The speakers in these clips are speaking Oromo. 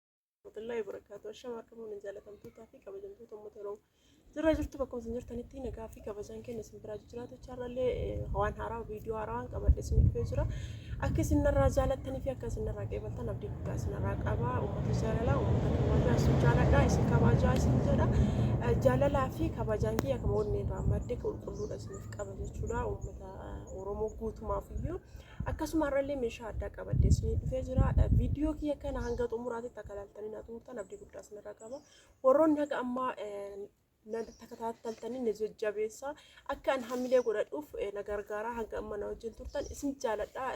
warahmatullahi wabarakatuh ashama akkam waliin jaalatamtootaa fi kabajamtoota uummata oromoo jirra jirtu bakka isin jirtanitti nagaa fi kabajaan keenya isin biraa jiraatu chaarrallee waan haaraa viidiyoo haaraa waan qabadhe isin dhufee jira akka isin narraa jaalattanii fi akka isin narraa qeebaltan abdii guddaa isin irraa qaba uummata jaalalaa uummata kabajaa isin jaaladha isin kabajaa isin jedha jaalalaa fi kabajaan kiyya akkuma onnee irraa madde qulqulluudha isiniif qaba jechuudha uummata oromoo guutumaaf iyyuu Akkasuma har'allee meeshaa addaa qabadhee isinii dhufee jira. Viidiyoo kiyya kana hanga xumuraatitti akka ilaaltanii na xumurtan abdii guddaa isinirraa qaba. Warroonni haga ammaa na takataataltanii na jajjabeessaa akka an hamilee godhadhuuf na gargaaraa hanga amma na wajjin turtan isin jaaladha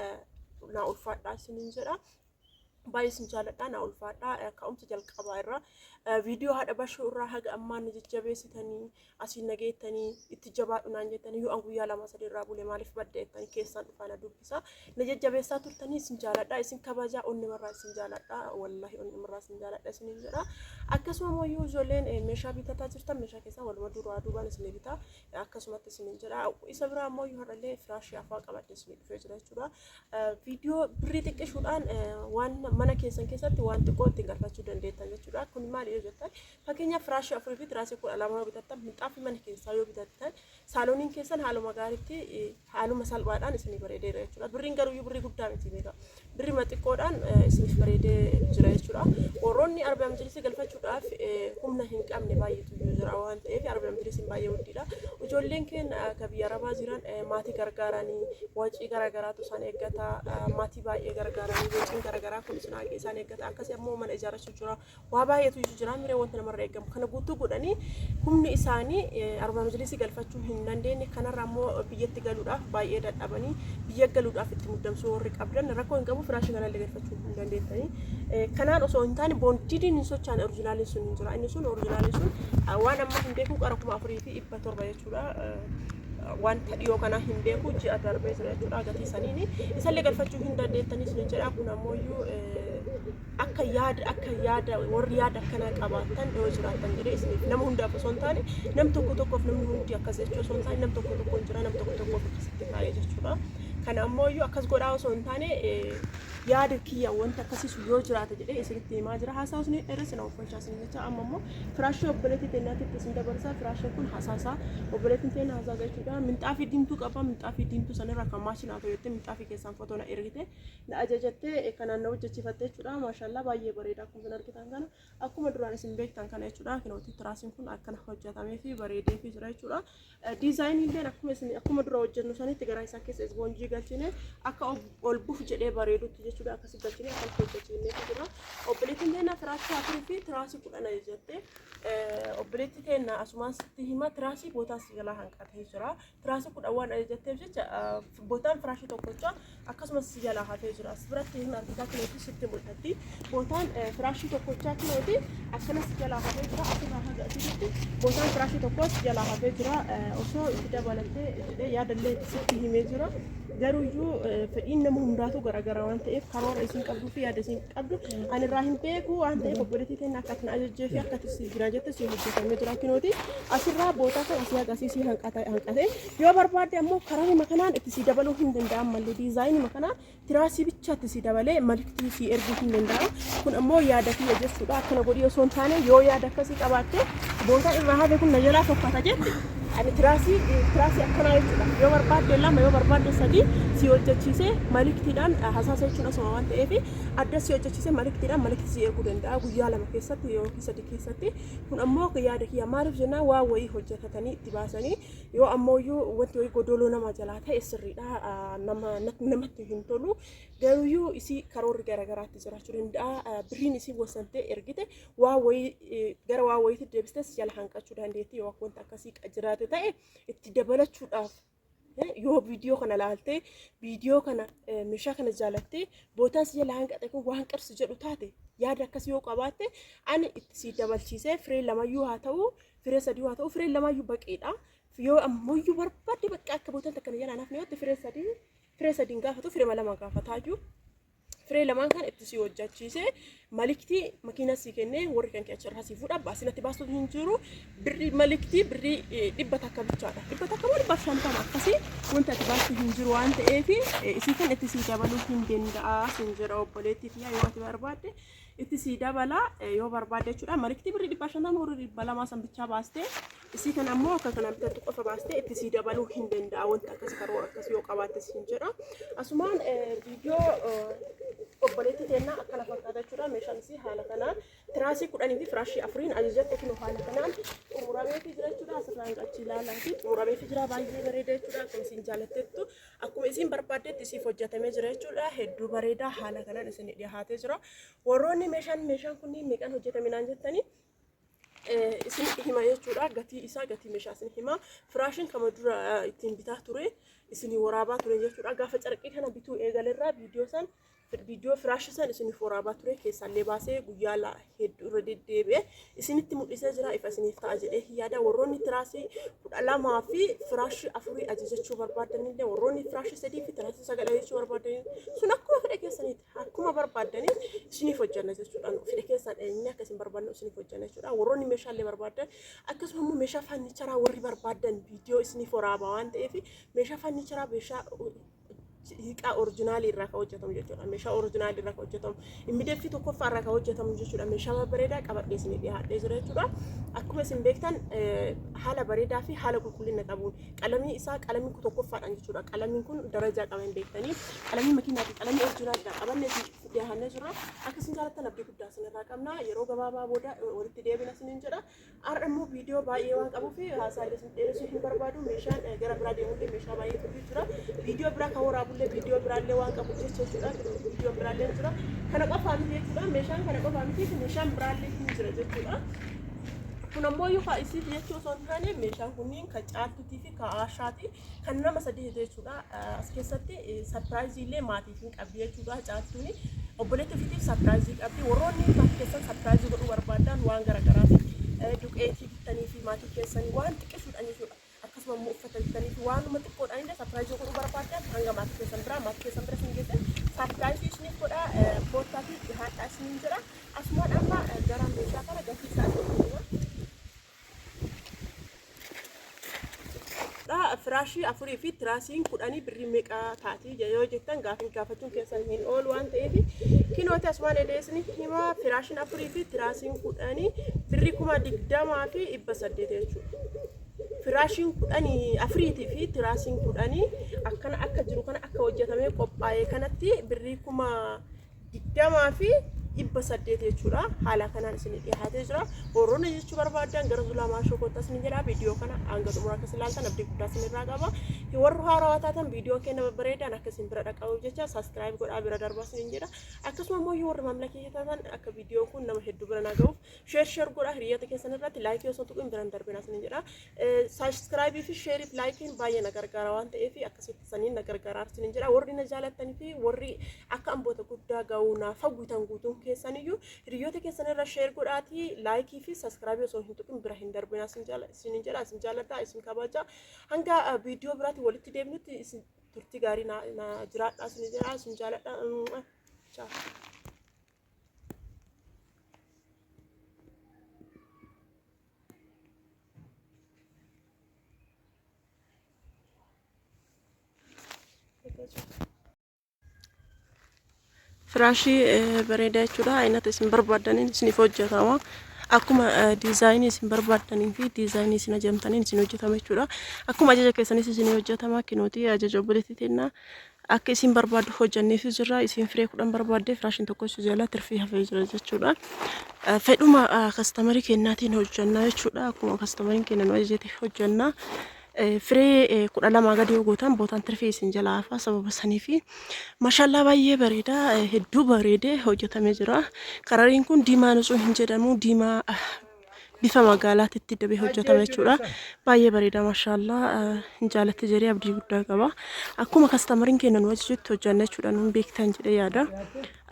na ulfaadhaa isiniin jedha. baay'ee isin jaalladha naa ulfaadha ka'umsa jalqabaa irraa viidiyoo haadha bashoo irraa haga ammaa na jajjabeessitanii asiin na geettanii itti jabaadhu naan jettanii yoo an guyyaa lama sadii irraa bule maaliif badde jettanii keessaan dhufaa na dubbisa na jajjabeessaa turtanii isin jaalladha isin kabajaa onnimarraa isin jaalladha wallahi onnimarraa isin jaalladha isiniin jedha akkasuma immoo yoo ijoolleen eh, meeshaa bitataa jirtan meeshaa keessaa waluma duraa duubaan isin bitaa akkasumatti isiniin jedha isa biraa immoo yoo har'allee firaashii afaa qabadde isin dhufee jira jechuudha Viidiyoo birrii xiqqishuudhaan waan mana keessan keessatti waan xiqqoo ittiin galfachuu dandeettan jechuudha. Kun maali yoo jettan fakkeenyaaf firaashii afurii fi tiraasii kudha lama yoo bitattan minxaafii mana keessaa yoo bitattan saalooniin keessan haaluma gaariitti haaluma salphaadhaan isinii bareedeera jechuudha. Birriin garuu birrii guddaa miti beeka. Birrii xiqqoodhaan isiniif bareedee jira jechuudha. Warroonni arbaam jilisii galfachuudhaaf humna hin qabne baay'ee jiraa waan ta'eef arabiyaan birisiin baay'ee wuddiidha ijoolleen keen ka biyya arabaa jiran maatii gargaaranii wacii garagaraatu isaan eeggata maatii baay'ee gargaaranii waciin garagaraa kun isaan eeggata akkasii ammoo mana ijaarachuu jira waa baay'eetu iyyuu jira miree wanta namarra eegamu kana guutuu godhanii humni isaanii arabaa majlisii galfachuu hin dandeenye kanarra ammoo biyyatti galuudhaaf baay'ee dadhabanii biyya galuudhaaf itti muddamsuu warri qabdan rakkoo hin qabu firaashii kanallee argachuu hin dandeettanii. Kanaan osoo hin taane boondidiin hin sochaane orijinaaliin sun hin jira. Inni sun orijinaaliin sun waan amma hin beeku qara kuma afurii fi dhibba torba jechuudha. wanta dhiyoo kana hin beeku ji'a darbee ture jechuudha gatii saniini isallee galfachuu hin dandeettanii isin jedha kun ammoo iyyuu akka yaada akka yaada warri yaada akkanaa qabaatan yoo jiraatan jedhee isiniif nama hundaaf osoo hin taane nam tokko tokkoof namni hundi akkas jechuu osoo hin taane nam tokko tokkoon jira nam tokko tokkoof akkasitti kaa'ee jechuudha. Kana ammoo iyyuu akkas godhaa osoo hin taane eh, yaada kiyya wanti akkasiisu yoo jiraate jedhee isinitti himaa jira. Haasaa isin dheeressa na uffachaa isin jecha amma immoo firaashii obboleettii teenyaatitti isin dabarsaa firaashiin kun hasaasaa obboleettiin teenya hasaa jechuudha. Minxaafii diimtuu qaba minxaafii diimtuu sanirra kan maashii naa toyottee minxaafii keessaan fotoo na ergite na ajajattee eh, kanaan na hojjechiifatte jechuudha. Maashaallah baay'ee bareeda akkuma isin argitan kana akkuma duraan isin beektan kana jechuudha. Kinooti tiraasiin kun akkana hojjetamee fi bareedee fi jira jechuudha. Diizaayinii illee akkuma isin akkuma dura hojjennu sanitti garaa isaa keessa isboonjii galchine akka ol buf jedhee bareedutti jechuudha akkasi galchine akka hojjechiinee jira. Obboleettiin keenya tiraasii afurii fi tiraasii kudhan ajajjatte. Obboleetti keenya asumaan sitti hima tiraasii bootaa si jalaa hanqatee jira. Tiraasii kudhan waan ajajjatteef jecha bootaan firaashii tokkocha akkasumas si jalaa hafee jira as biratti hin argita kilooti sitti mul'atti bootaan eh, firaashii tokkochaa kilooti akkana si jalaa hafee jira asirraa haga asitti bootaan firaashii tokkoo si jalaa hafee jira Eh, osoo itti dabalattee jedhee yaadallee sitti himee jira garuu iyyuu eh, fedhiin nama hundaatu garaagaraa waan ta'eef karoora isin qabduu fi yaada isin qabdu ani irraa hin beeku waan ta'eef obboleettii keenya akka isin ajajjee fi akka isin jira jette si hojjetamee jira kinooti asirraa bootaa kan asii agarsiisii hanqate hanqate Yoo barbaadde ammoo kararima kanaan itti sii dabaluu hin danda'an malli diizaayinima kanaan tiraasii bicha itti sii dabalee malktii sii erguu hin danda'a. Kun ammoo yaada kiyya jechuudha akkana godhii osoo hin taane yoo yaada akkasii qabaatte booda irraa hafe kun na jalaa tokkata jette ani tiraasii tiraasii akkanaa jechuudha yoo barbaadde lama yoo barbaadde sadii sii hojjechiisee maliktiidhaan hasaasa jechuun asuma waan ta'eef adda sii hojjechiisee maliktiidhaan maliktii sii erguu danda'a guyyaa lama keessatti yookiin sadii keessatti kun ammoo yaada kiyya maaliif jennaan waa wayii hojjetatanii itti baasanii Yoo ammooyyuu wanti wayii godooloo nama jalaa ta'e sirriidha nama namatti hin tolu garuuyyuu isii karoorri garagaraatti jiraachuu danda'a birriin isii wasantee ergite waa wayii gara waa wayiitti deebistee si jala hanqachuu dandeetti yoo akka wanta akkasii jiraate ta'e itti dabalachuudhaaf yoo viidiyoo kana laaltee viidiyoo kana meeshaa kana jaalattee bootaan si jala hanqate kun waan qarsi jedhu taate yaada akkasii yoo qabaatte ani itti si dabalchiisee firee lamayyuu haa ta'u Firee sadii haa ta'u fireen lamaayyuu baqeedha. Yoo ammayyuu barbaadde bakka akka bootan takka na jalaan hafne yoo firee sadii firee sadiin gaafatu firee lama gaafataayyuu firee lamaan kan itti si hojjachiise maliktii makiinaa si kennee warri kan keessa irraa si fuudha baasinatti baasuuf hin jiru birrii maliktii birrii eh, dhibba takka bichaadha dhibba takka moo dhibba shantama akkasii wanta ati baastu hin jiru waan ta'eef eh, isii kan itti si dabaluu hin danda'a sin jira obboleettiif yaa yoo ati barbaadde itti sii dabala yoo barbaadde jechuudha. Mariktii birrii dhibba shantama horii dhibba lamaa san bichaa baastee isii kan ammoo akka kana bitattu qofa baastee itti sii dabaluu hin danda'a wanti akkas karoora akkas yoo qabaatte siin jedha. Asumaan viidiyoo obboleettii teennaa akkana fakkaata jechuudha. Meeshaan isii haala kanaan tiraasii kudhanii fi firaashii afuriin ajajatte kunoo haala kanaan xumurameetii jira jechuudha. Asirraan achi ilaalaa fi xumurameetii jira baay'ee bareeda jechuudha. Akkuma isin jaalattettu Akkuma isiin barbaaddetti isiif hojjetamee jira jechuudha. Hedduu bareedaa haala kanaan isin dhiyaatee jira. Warroonni meeshaan meeshaan kunniin meeqaan hojjetame naan jettanii isin hima jechuudha. Gatii isaa gatii meeshaa isin hima. Firaashin kama dura ittiin bitaa ture isin waraabaa ture jechuudha. Gaafa carqii kana bituu eegalerraa viidiyoo san Viidiyoo firaasha san isiniif waraabaa ture keessaallee baasee guyyaa la hedduu irra deddeebi'e isinitti mul'isee jira ifa isiniif ta'a jedhee yaada warroonni tiraasii kudha lamaa fi firaashii afurii ajajachuu barbaadanillee warroonni firaashii sadii fi tiraasii sagal ajajachuu barbaadan sun akkuma fedha keessaniiti akkuma barbaadanii isiniif hojjanna jechuudha fedha keessan eenyuun akka isin barbaadnu isiniif hojjanna jechuudha warroonni meeshaalee barbaadan akkasuma immoo meeshaa fannicharaa warri barbaadan viidiyoo isiniif waraabaa waan ta'eef meeshaa fannicharaa meeshaa hiiqaa orijinaalii irraa kan hojjetamu jechuudha. Meeshaa orijinaalii irraa kan hojjetamu. Immideeffii tokkoffaa irraa kan hojjetamu jechuudha. Meeshaa babbareedaa qabadhee isin dhiyaadhee jira jechuudha. Akkuma isin beektan haala bareedaa fi haala qulqullina qabuun qalamii isaa qalamii tokkoffaadhaan jechuudha. Qalamiin kun darajaa qaba hin beektanii. Qalamii makiinaa fi qalamii orijinaalidha. Qabannee isin dhiyaannee jirra. Akka isin jaallattan abdii guddaa isin irraa qabna. Yeroo gabaabaa booda walitti deebina isiniin jedha. Har'a immoo viidiyoo baay'ee waan qabuuf haasaa illee isin dheeressuu hin barbaadu. Meeshaan eh, gara biraa deemullee meeshaa baay'ee turuu jira. Viidiyoo biraa kan waraabullee viidiyoo biraallee waan qabu keessa jechuudha. Viidiyoo biraallee ni jira. Kana qofaa miti jechuudha. Meeshaan kana qofaa miti meeshaan biraallee ni jira jechuudha. Kun ammoo iyyuu kaa isiif jechuu osoo hin taane meeshaan kunniin kan caaltuutii fi kan aashaati. kan nama sadii hete jechuudha as keessatti sarpiraayizii illee maatiif hin qabdi jechuudha caattuun obboleetti ofiitiif sarpiraayizii qabdi warroonni maatii keessan sarpiraayizii godhuu barbaadan waan garagaraati duqeetii bittanii fi maatii keessan waan xiqqeessuudhaan jechuudha akkasuma immoo uffata bittanii fi waanuma xiqqoodhaan illee sarpiraayizii godhuu barbaadan hanga maatii keessan biraa maatii keessan bira hin geessan sarpiraayizii isiniif godha koottaatii dhihaadhaa isiniin jira asumaan amma gara meeshaa kana gatii isaa isiniif hima. firaashii afurii fi tiraasiin kudhanii birrii meeqa taati yoo jettan gaafin gaafachuun keessan hin oolu waan ta'eef kinooti asumaan edeesni himaa firaashiin afurii fi tiraasiin kudhanii birrii kuma digdamaa fi dhibba saddeet jechuudha. Firaashiin kudhanii afuriitii fi tiraasiin kudhanii akkana akka jiru kana akka hojjetamee qophaa'e kanatti birrii kuma digdamaa fi dhibba saddeet jechuudha. Haala kanaan isin dhiyaatee jira. Boorona jechuu barbaaddan gara zulaa maashoo kottaa isin jedha. Viidiyoo kana hanga xumura akka isin ilaaltan abdii guddaa isin irraa qaba. Warri haarawaa taatan viidiyoon keenya babbareedaan akka isin bira dhaqqabuuf jecha saskiraayib godhaa bira darbaa isin jedha. Akkasuma immoo yoo warri maamila keenya taatan akka viidiyoon kun nama hedduu bira na ga'uuf sheer sheer godhaa hiriyoota keessan irratti laayikii osoo tuquun bira hin darbina isin jedha. Saabskraayibii fi sheeriif laayikiin baay'ee na gargaara waan ta'eef akkasitti saniin na gargaara isiniin jedha warri na jaalattan fi warri akka amboota guddaa ga'uu naaf hawwitan guutuun keessaniyyuu hiriyoota keessanirra sheer godhaatii laayikii fi saabskraayibii osoo hin tuqin bira hin darbina isiniin jedha isin jaaladha isin kabaja hanga viidiyoo biraatti walitti deebinutti isin turtii gaarii na jiraadha isiniin jedha isin jaaladha. Ciao. firaashii eh, bareedaa jechuudha aynata isin barbaadaniin isiniif hojjetama akkuma eh, diizaayinii isin barbaadaniin fi diizaayinii isin ajamtaniin isin hojjetama jechuudha akkuma ajaja keessanis isin hojjetama kinuuti ajaja obboleetti tennaa Akka isiin barbaaddu hojjanneefis jirra. Isiin firee kudhan barbaadde firaashin tokko si jala tirfii hafee jira jechuudha. Eh, Fedhuma ah, kastamarii kennaatiin hojjannaa jechuudha. Akkuma kastamariin kenna nu ajajete hojjannaa. Eh, Firee eh, kudha lamaa gadi yoo gootan bootaan tirfii isin jala hafaa sababa saniifi. Mashaallaa baay'ee bareeda. eh, Hedduu bareedee hojjetamee jira. Karariin kun diimaa nutsuu hin jedhamu. Diimaa ah, bifa magaalaatitti dabee hojjetame jechuudha. Baay'ee bareeda mashaallaa hin jaalatti jedhee abdii guddaa qaba. Akkuma kastamariin keenya nu ajajutti hojjanna jechuudha nuun beektan jedhee yaada.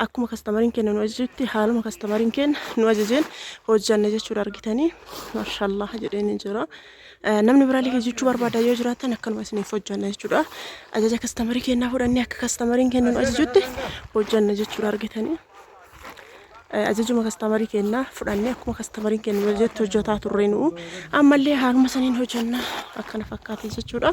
Akkuma kastamariin keenya nu ajajutti haaluma kastamariin keenya nu ajajeen hojjanna jechuudha argitanii mashaallaa jedhee ni jira. Namni biraallee hojjechuu barbaada yoo jiraatan akkanuma isiniif hojjanna jechuudha. Ajaja kastamarii keenyaa fudhannee akka kastamariin keenya nu ajajutti hojjanna jechuudha argitanii. ajajuma kastamarii keenna fudhanne akkuma kastamariin keenya nu ajajetti hojjetaa turre nu'u ammallee haaluma saniin hojjenna akkana fakkaate jechuudha.